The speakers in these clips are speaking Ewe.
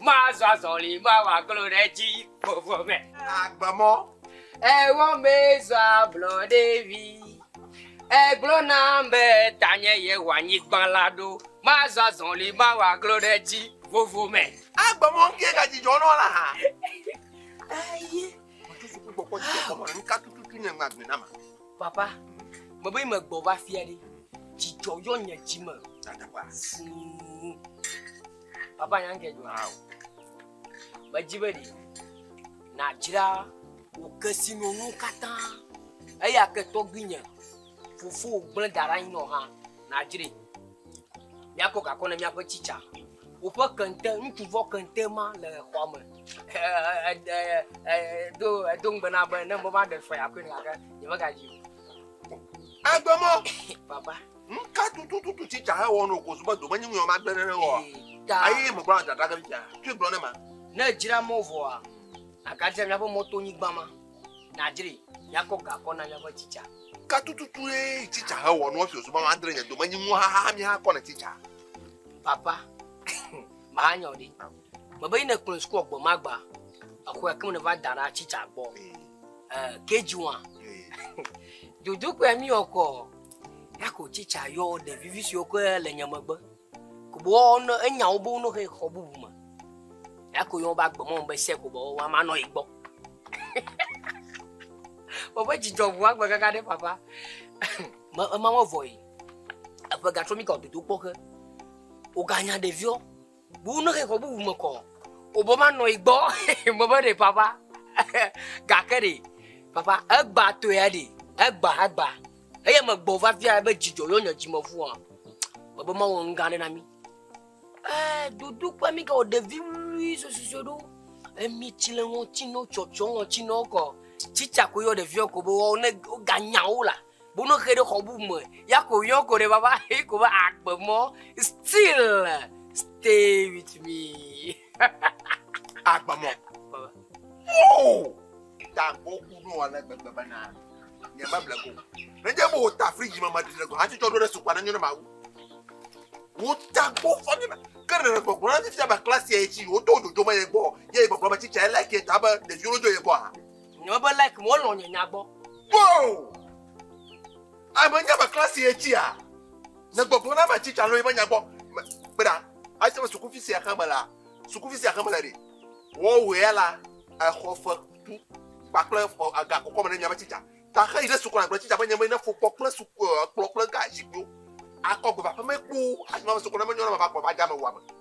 Mazɔ azɔli, mawɔ aglo ɖe edzi vovo me. Agbe mɔ. Ewɔ mee zɔ ablɔɖe vi. Egblɔ nam be tanye yewɔ anyigba la ɖo. Mazɔ azɔli, mawɔ aglo ɖe edzi vovo me. Agbe mɔ ŋkee gadzidzɔ nɔ la ha. Eye. Ŋutsu si gbɔ kpɔ dzidzɔ kpɔ me ŋka tututu nye ŋagbe na ma. Papa, me be me gbɔ va fia ɖe. Dzidzɔ yɔ nye dzi me. Fuu. Papa nya nke dzɔ hã o. Medzi be ɖi nàdzra wò kesinɔnuwo katã eya ke tɔgbuinye fofo gblẽ da ɖe anyi nɔ hã nàdzrɛ. Míakɔ gakɔ ne míaƒe tsitsa. Woƒe kente, ŋutsuvɔ kente ma le xɔa me. Edo edo ŋugbe na be ne meva ɖe fea koe gake nyemegadzi o. Agbemɔ! Papa. Nu ka tutututu tsi tsa hewɔ no kozu be domenyinuya ma gbe nene wɔa? Ayi megblɔ na dada ɖe fia. Tui gblɔ ne ma. Ne dzra mɔ vɔa, agadzra miaƒe mɔtonyigba ma. Nàdzri, miakɔ gakɔ na miaƒe tsitsa. Ka tututu ye tsitsa hewɔ no esi wòzu be madre nye domenyinu haha mi hakɔ ne tsitsa? Papa, mahanya wò ɖi. Mebe yi nèkplɔe sukua gbe ma gba. Exɔe ke me nèva da ɖa tsitsa gbɔ. KG1. Dodokpea miwɔ kɔ. Yako tsitsa yɔ ɖevivi siwo ke le nye megbe. Kobɔ ne enya wo be wonɔ he xɔ bubu me. Yako yɔ wobe agbemɔ be se kobɔ wɔwa manɔ yi gbɔ. Woƒe dzidzɔ ŋu agbe kaka ɖe papa. Me ema me vɔ yi. Eƒe gatrɔ mi ka dodo kpɔ ke. Woganya ɖeviwo. Bu ne xexɔ bubu me kɔ o bɔ ma nɔ igbɔ me be ɖe papa gake ɖe papa egba tɔe ɖe egba egba eye me gbɔ va fia be dzidzɔ yɔ nye dzime fu a me be ma wɔ ŋga ɖe na mi ɛɛ dodo kpe mi ka o ɖevi wui sososo ɖo emi tsi le ŋɔtsi nɔ tsɔtsɔ ŋɔtsi nɔ kɔ tsitsa ko yɔ ɖeviɔ ko be wɔ ne woga nyawo la Bu no xe ɖe xɔ bu me. Ya ko yɔ ko ɖe baba he ko va akpe mɔ. Still stay with me. Akpe mɔ. Oh! Ta ko ku no ale gbegbe bana. Nye ma ble ko. Ne je bo ta fridge ma ma dile ko. Ati cho do ɖe sukwa ne nyo ne ma wu. Wo ta ko fa ne ke ne gbɔgbɔ na ti ba class ye ti wo to dodo ma ye gbɔ. Ye gbɔgbɔ ma ti cha ele ke ta ba de yo do ye gbɔ. Nyɔ be like me wolɔ̃ nye nya gbɔ. Wow! Ame nye ame klasi ye tsia? Ne gbɔgbɔ na va tsitsa lɔ yi va nya gbɔ. Kpe ɖa, ase me sukuvi sia xe me la, sukuvi sia xe me la ɖe. Wɔwɔe ya la, exɔ fe tu kpakple aga kɔkɔ me ne mia va tsitsa. Ta xe yi ɖe sukua gblɔ tsitsa be nye me ne fokpɔ kple suku kplɔ kple ga zikpuiwo. Akɔ gbe va ƒeme kpoo, asi ma me sukua ne me nyɔ na ma va kplɔ va dza me wua me.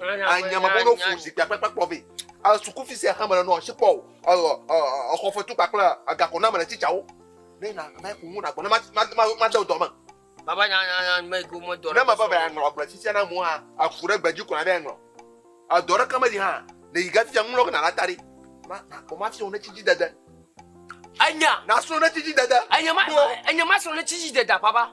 anyamabono fu zikpui akpakpa kplɔ vɛ sukufi sia hã mele nɔ asi kpɔ o exɔ fetu kpakple agakɔ na mele tsitsawo ne na ame ku ŋu nagbɔ ne made dɔ me. baba nyanyanya me ko me dɔ ne me va va aŋlɔ agble tsitsia na mu hã aku ɖe gbedzi kura ɖe aŋlɔ edɔ ɖeke meli hã ne yi gafia ŋlɔ gena la ta ɖi ma ma ko ma fiɔ ne tsi dzi dede enya na srɔ̃ ne tsi dzi dede enya ma enya ma srɔ̃ ne tsi dzi dede baba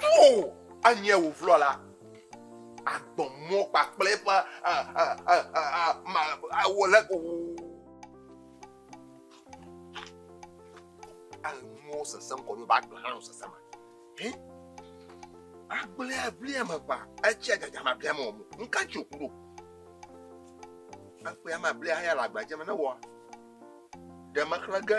Ʋu anyia wò vlɔ la, agbɔ mɔ kpakple eƒe awɔle o. Anuwo sesẽ ŋkɔ ɖo ba agblẽ hã nɔ sesẽ me. Agblẽ abli ame ʋa, etsi adzadza ma abli ame wɔmɔ. Ŋka tsi òku ɖo? Ekpɔe ame abli hã ya le agbadzɛ me ne wɔ ɖe mexlẽ ge.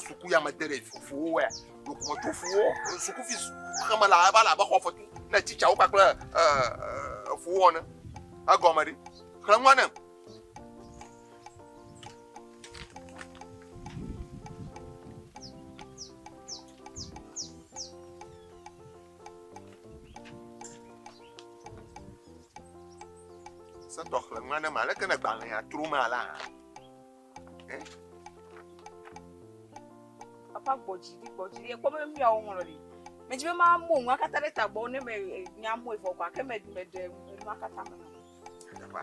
Suku ya me de ɖe fufuwo wɛ. Dokumɔtu fuwo suku fi xeme la eva la be xɔ fɔtu ne titsawo kpakple fuwo wɔne. Egɔme ɖi. Xlẽ nua ne. Setɔ xlẽ nua ne ma leke ne gbalẽa tro ma la. Papa gbɔ dzi ɖi gbɔ dzi ɖi ekpɔ be mi awo ŋlɔ ɖi. Mɛ dzi be ma mo ŋu akata ɖe tagbɔ ne mɛ eh, nya mo evɔ gba ke mɛ ɖi mɛ ɖe ŋu akata me. Papa.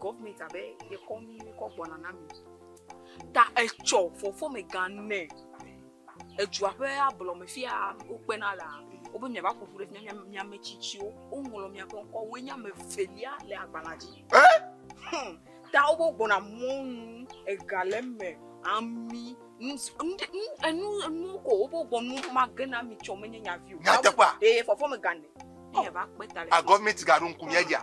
gɔvmɛnt abe yekɔ nu kɔ gbɔna na mi ta etsɔ fɔfɔmega nɛ edua ƒe ablɔme fi ya wokpena lea wobe miava ƒo ƒu ɖe fi ya miame tsitsiwo woŋlɔ miaƒe ŋkɔ woe nye ame evelia le agbalẽa dzi hmm. ta wobe gbɔna mɔnu ega le eme ami enu enu ko wobe gbɔnu mage na mi tsɔ menye nyavi o. nyateƒa ee fɔfɔmega nɛ. agɔvmɛnt gaɖo ŋku mia dzia.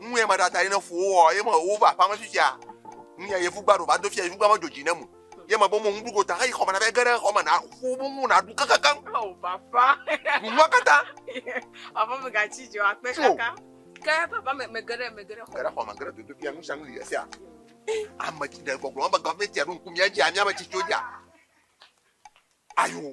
Ŋu ye maɖa ta yi ne fu wowɔ ye me wova aƒea me fifia. Ŋu ya yevu gba ɖo va do fia yevu gba me dzo dzi ne mu. Ye me bo mo ŋu ɖugo ta heyi xɔme na be ge ɖe xɔ me na fu bu ŋu na ɖu kekekeŋ. Oh papa. Ɖu ŋua kata. Papa me ga tsi dzo akpe kaka. Ke papa me me ge ɖe me ge ɖe xɔ. Ge ɖe xɔ me ge ɖe dodo fia ŋu sia ŋu li esia. Ame tsi ɖe gbɔgblɔ be gɔvmɛntia ɖo ŋku mia dzi amia me tsi tso dza. Ayo.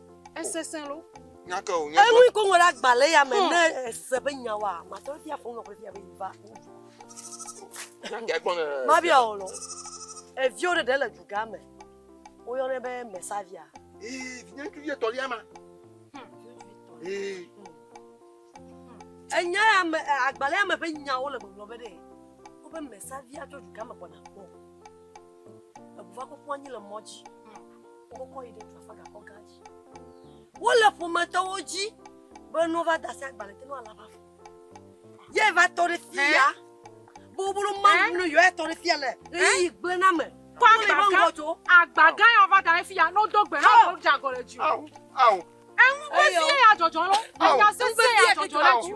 Esesẽ lo. Nyakɛ o, nyakɛ. Enu ko ŋlɔ ɖe agbalẽ ya me hmm. ne ese be nya wa, matɔ bia fɔ ŋlɔ bia be va. Nyakɛ gbɔ ne. Ma bia o lo. Eviwo ɖe ɖe le duga me. Woyɔnɛ be mesavia. Ee, vinyɛ ŋutsuvi etɔlia ma. Hmm. Ee. Hmm. Enya ya me agbalẽ ya me ƒe nyawo le gbɔgblɔ be ɖe wobe mesavia tso duga me gbɔna kpɔ. eʋua kɔkɔ anyi le mɔ dzi wokɔkɔ yi ɖe dua fa gakɔ gã dzi wole ƒometɔwo dzi be no va dasi agbalẽ te no ala va fɔ ye va tɔ ɖe fi ya bobolo mamu no yɔ etɔ ɖe fi ya le ɣeyiɣi gblẽ na me kɔ agba gã agba gã ya va da ɖe fi ya n'odo gbe ha wòdze agɔ le dzi o. Eŋu vevi ya dzɔdzɔ lɔ. Enya sese ya dzɔdzɔ lɔ tsi o.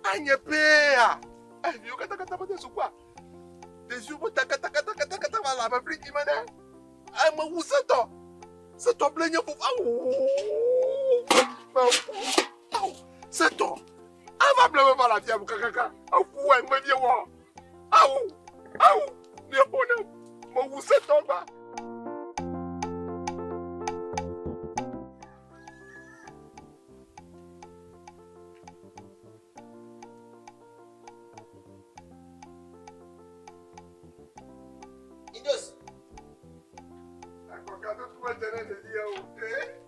Anye pea, eviwo katakata mede sukua. Ɖeviwo ƒe takatakatakata va le abe friji me ne. Ame wu setɔ. Setɔ ble nye fofo. Setɔ. Ava ble me va le afia kakaka. Eku wɔ eŋu vevi wɔ. Awu, awu, mieƒo nam, mo ŋusẽtɔ gba.